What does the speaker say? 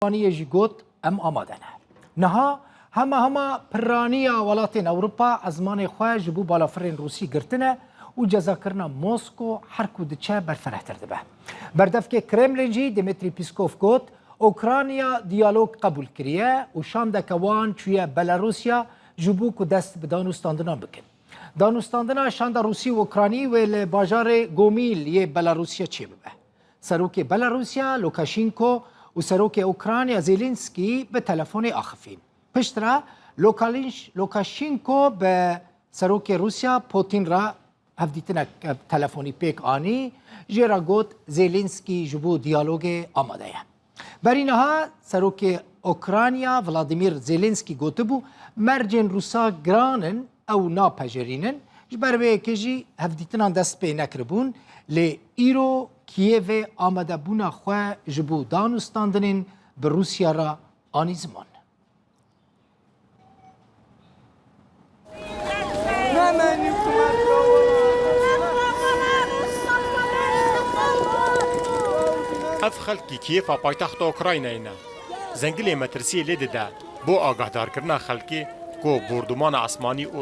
Pirraniyê jî got, em amade ne. Niha hema hema pirraniya welatên Ewropa ezmanê xwe ji bo balafirên Rûsî girtine û cezakirina Mosko her ku diçe berfirehtir dibe. Berdevkê Kremlin jî Dimitrî Pîskov got, Ûkraniya diyalog qebûl kiriye û şandeke wan çûye Belarûsya ji bo ku dest bi danûstandinan bikin. Danûstandina şanda Rûsî û Ûkranî wê li bajarê Gomîl yê Belarûsya çêbibe. Serokê Belarusya Lukashenko û Serokê Ukrayna Zelensky bi telefonê axifîn. Pişt re Lukashenko bi Serokê Rusya Putin re hevdîtinek telefonî pêk anî, jê re got Zelensky ji bo diyalogê amade ye. Berî niha serokê Okrayna Vladimir Zelensky gotibû, mercên Rûsa giran in, ew napejerînin. Ji ber vê yekê jî hevdîtinan dest pê nekiribûn. Lê îro Kiyevê amadebûna xwe ji bo danûstandinên bi Rûsya re anî ziman. Ev xelkî Kîyêfa paytexta Ukraynayê ne. Zengilê metirsiyê lê dide bo agahdarkirina xelkê ku bordûmana esmanî û.